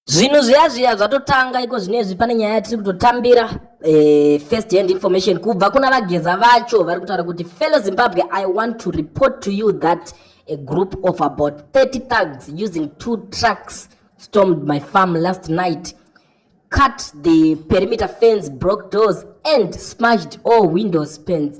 Zvinhu zviya zviya zvatotanga iko zvinezvi pane nyaya yatiri kutotambira eh, first hand information kubva kuna vageza vacho vari kutaura kuti fellow Zimbabwe I want to report to you that a group of about 30 thugs using two trucks stormed my farm last night cut the perimeter fence broke doors and smashed all windows panes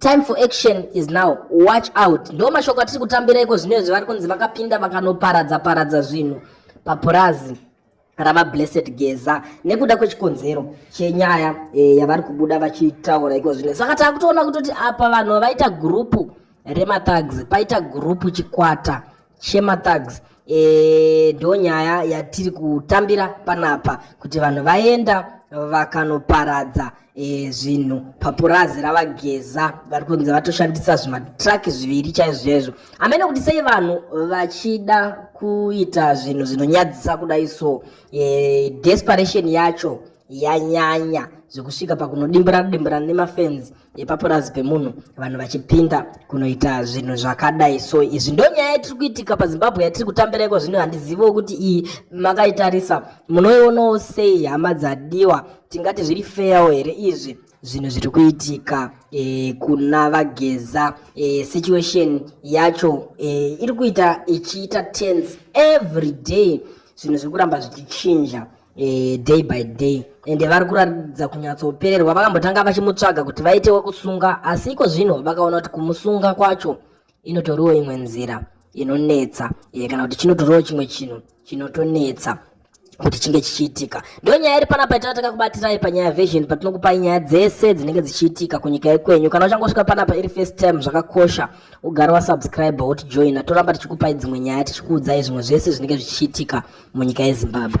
Time for action is now. Watch out. Ndo mashoko atiri kutambira iko zvino izvi vari kunzi vakapinda vakanoparadza paradza zvinhu papurazi rava Blessed Geza nekuda kwechikonzero chenyaya e, yavari kubuda vachitaura iko zvino. Saka takutoona kutoti apa vanhu vaita gurupu remathags paita gurupu chikwata Shema Thugs e, ndo nyaya yatiri kutambira panapa kuti vanhu vaenda vakanoparadza e, zvinhu papurazi ravageza vari kunzi vatoshandisa zvimatraki zviviri chaizvo chaizvo amene kuti sei vanhu vachida kuita zvinhu zvinonyadzisa kudai so e, desperation yacho yanyanya zvekusvika pakunodimburana dimburana nemafenzi epapurazi pemunhu vanhu vachipinda kunoita zvinhu zvakadai so izvi ndo nyaya yatiri kuitika pazimbabwe yatiri kutambira iko zvino handiziviwo kuti iyi makaitarisa munoionawo sei hama dzadiwa tingati zviri feyawo here izvi zvinhu zviri kuitika e, kuna vageza e, situation yacho e, iri kuita ichiita tense every day zvinhu zviri kuramba zvichichinja e, day by day ende vari kuratidza kunyatsopererwa vakambotanga vachimutsvaga kuti vaite wekusunga asi iko zvino vakaona kuti kumusunga kwacho inotoriwo imwe nzira inonetsa e, kana kuti chinotoriwo chimwe chinhu chinotonetsa kuti chinge chichiitika ndo nyaya iri panapa itaa takakubatirai panyaya vision patinokupai nyaya dzese dzinenge dzichiitika kunyika yekwenyu kana uchangosvika panapa iri first time zvakakosha ugara wasubscribe wotijoina toramba tichikupai dzimwe nyaya tichikuudzai zvimwe zvese zvinenge zvichiitika munyika yezimbabwe